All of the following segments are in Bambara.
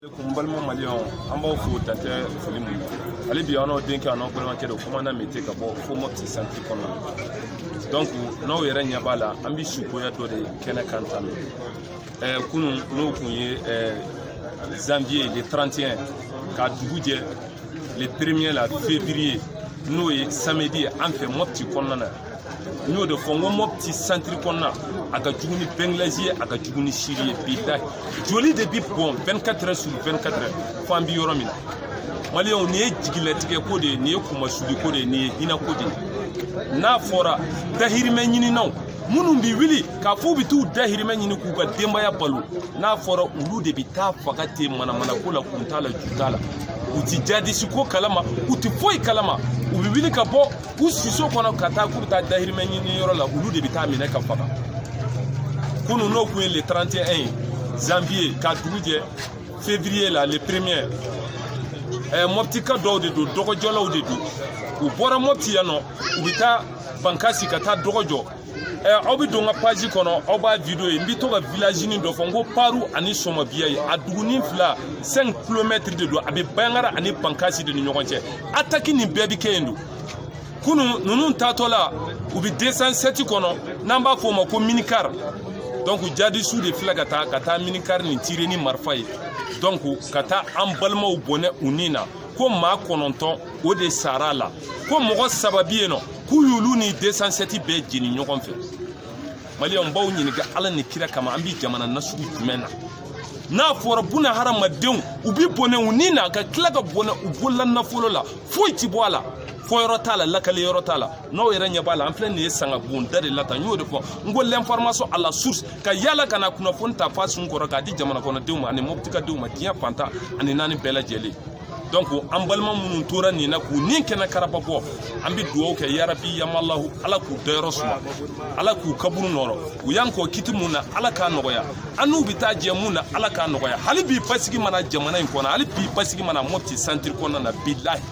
kun balima maliyɛnw an b'aw fo dan tɛ foli mun hali bi an n'aw denkɛ an n'aw balimakɛ don komanda mete ka bɔ fo mɔpti santiri kɔnɔna donc n'aw yɛrɛ ɲɛ b'a la an bɛ sukoya dɔ de kɛnɛ kan tan ɛɛ kunu n'o kun ye ɛɛ janvier le 31 ka dugu jɛ le premier la février n'o ye samedi ye an fɛ mɔpti kɔnɔna na n y'o de fɔ n ko mɔpti santiri kɔnɔna a ka jugu ni bɛngilɛzi ye a ka jugu ni siri ye bilahi joli de bi bɔn 24 heures sur 24 heures fo an bi yɔrɔ min na maliyɛnw nin ye jigilatigɛ ko de ye nin ye kunmasuli ko de ye nin ye hinɛ ko de ye n'a fɔra dahirimɛ ɲininaw minnu bi wuli k'a fɔ u bɛ t'u dahirimɛ ɲini k'u ka denbaya balo n'a fɔra olu de bɛ taa faga ten manamanako la kun t'a la ju t'a la u ti jadisi ko kalama u ti foyi kalama u bɛ wuli ka bɔ u siso kɔnɔ ka taa k'u bɛ taa dahirimɛ ɲini yɔrɔ la olu de bɛ taa minɛ ka faga kunu n'o kun ye le 31 ye janvier ka dugu jɛ février la le premier ɛɛ mɔputika dɔw de don dɔgɔjɔlaw de don u bɔra mɔputi yan nɔ u bɛ taa bankasi ka taa dɔgɔjɔ aw bɛ don n ka paji kɔnɔ aw b'a video ye n bɛ to ka vilazini dɔ fɔ n ko paru ani sɔmɔbiya ye a dugunin fila 5 kilomɛtiri de don a bɛ bayangara ani bankasi de ni ɲɔgɔn cɛ ataki nin bɛɛ bɛ kɛ yen don kunu ninnu taatɔ la u bɛ desan sɛti kɔnɔ n'an b'a fɔ o ma ko minikari donc jadisiw de filɛ ka taa ka taa minikari nin tire ni marifa ye donc ka taa an balimaw bɔnɛ u ni na ko maa kɔnɔntɔn o de sara a la ko mɔgɔ saba bɛ yen nɔ k'u y'olu ni desansɛti bɛɛ jeni ɲɔgɔn fɛ maliyɛnw n b'aw ɲininka ala ni kira kama an bɛ jamana nasugu jumɛn na n'a fɔra buna hadamadenw u bɛ bɔnɛ u ni na ka tila ka bɔnɛ u bolola nafolo la foyi ti bɔ a la fɔ yɔrɔ t'a la lakali yɔrɔ t'a la n'aw yɛrɛ ɲɛ b'a la an filɛ nin ye sanga bonda de la tan n y'o de fɔ n ko l'information à la source ka yaala ka na kunnafoni ta f'a sun kɔrɔ k'a di jamanakɔnɔdenw ma ani mɔbitikadenw ma diɲɛ fan tan ani naani bɛɛ lajɛlen donc an balima minnu tora nin na k'u ni kɛnɛ karaba bɔ an bɛ dugawu kɛ yarabi yamalahu ala k'u dayɔrɔ suma ala k'u kaburu nɔrɔ u y'an kɔn kiti mun na ala k'a nɔgɔya an n'u bɛ taa jɛ mun na ala k'a nɔgɔya hali bi basigi ma na jamana in kɔnɔ hali bi basigi ma na mɔpti santiri kɔnɔna na bilahi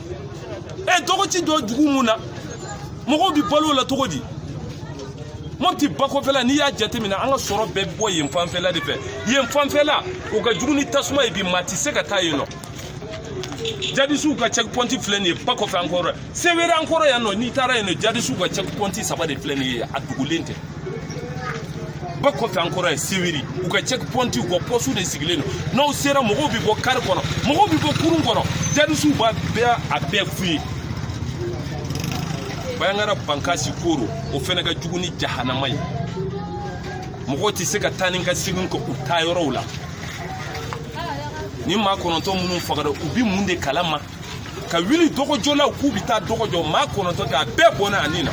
ɛ dɔgɔ ti jɔ dugu mun na mɔgɔw bɛ balo la cogo di mɔti bakɔfɛla n'i y'a jateminɛ an ka sɔrɔ bɛɛ bɔ yen fanfɛla de fɛ yen fanfɛla o ka jugu ni tasuma ye bi maa tɛ se ka taa yen nɔ jadisiw ka check point filɛ nin ye ba kɔfɛ an kɔrɔ sewere an kɔrɔ yan nɔ n'i taara yen nɔ jadisiw ka check point saba de filɛ nin ye a dugulen tɛ ba kɔfɛ an kɔrɔ ye sewiri u ka check point u ka pɔsiw de sigilen don n'aw sera mɔgɔw bɛ bɔ kari kɔnɔ mɔgɔw bɛ bɔ kurun kɔnɔ jadisiw b'a bɛɛ a bɛɛ fuye bayangara bankasi koro o fɛnɛ ka jugu ni jahanama ye mɔgɔw tɛ se ka taa ni ka segin kɛ u taayɔrɔw la ni maa kɔnɔntɔn minnu fagara u bi mun de kalama ka wuli dɔgɔjɔlaw k'u bi taa dɔgɔ jɔ maa kɔnɔntɔn k'a bɛɛ bɔnɛ a ni na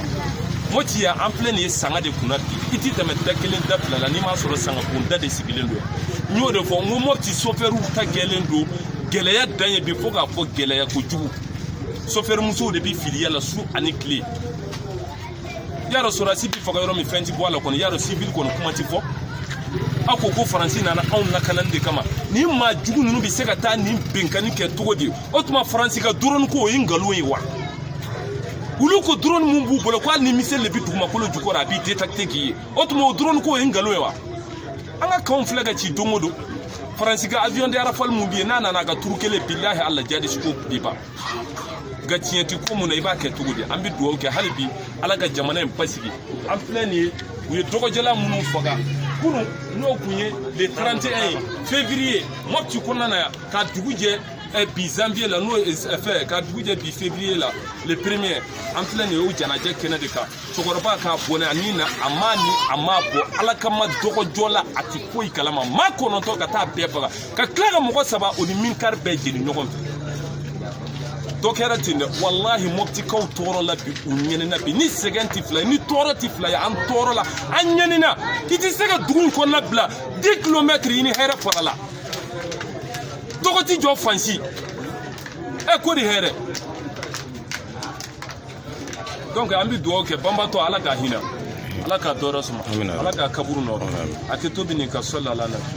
moti yan an filɛ nin ye sanga de kunna bi i ti tɛmɛ da kelen da fila la n'i m'a sɔrɔ sangakunda de sigilen don n y'o de fɔ n ko moti sofɛriw ta gɛlɛn don gɛlɛya dan ye bi fo k'a fɔ gɛlɛya kojugu sofɛrimusow de bi filiya la su ani tile y'a dɔn sɔrɔdasi bi faga yɔrɔ min fɛn ti bɔ a la kɔni y'a dɔn sivili kɔni kuma ti fɔ aw ko ko faransi nana anw lakanani de kama nin maa jugu ninnu bɛ se ka taa nin binkanni kɛ cogo di o tuma faransi ka drone ko o ye nkalon ye wa olu ko drone min b'u bolo ko hali ni miseli de bɛ dugumakolo jukɔrɔ a b'i détecter k'i ye o tuma o drone ko o ye nkalon ye wa an ka kanw filɛ ka ci don o don faransi ka avion de rafale min bɛ yen n'a nana a ka turu kelen bilahi ala jihadisi ko bɛ ban nka tiɲɛ ti ko mun na i b'a kɛ cogo di an bɛ dugawu kɛ hali bi ala ka jamana in basigi an filɛ nin ye u ye dɔgɔjɔla minnu faga kunun n'o kun ye le 31 février mɔpti kɔnɔna na yan ka dugu jɛ eh, bi janvier la n'o ye eh, fɛ ka dugu jɛ bi février la le premier an filɛ nin ye o janaja kɛnɛ de kan cɛkɔrɔba k'a bɔnɛ a ni na a m'a ni a m'a bɔ ala kama dɔgɔjɔla a tɛ foyi kalama maa kɔnɔntɔn ka taa bɛɛ faga ka tila ka mɔgɔ saba o ni minikari bɛɛ jeni ɲɔgɔn fɛ donc kɛra ten dɛ walahi mɔptikaw tɔɔrɔla bi u ɲɛnina bi ni sɛgɛn tɛ fila ye ni tɔɔrɔ tɛ fila ye an tɔɔrɔla an ɲɛnina i tɛ se ka dugu in kɔnɔna bila 10 kilomɛtiri i ni hɛrɛ farala dɔgɔ ti jɔ fan si e ko di hɛrɛ donc an bɛ dugawu kɛ banbaatɔ ala ka hinɛ a la k'a dayɔrɔ suma ala k'a kaburu nɔɔrɔ a kɛ to bɛ nin ka sɔli ala na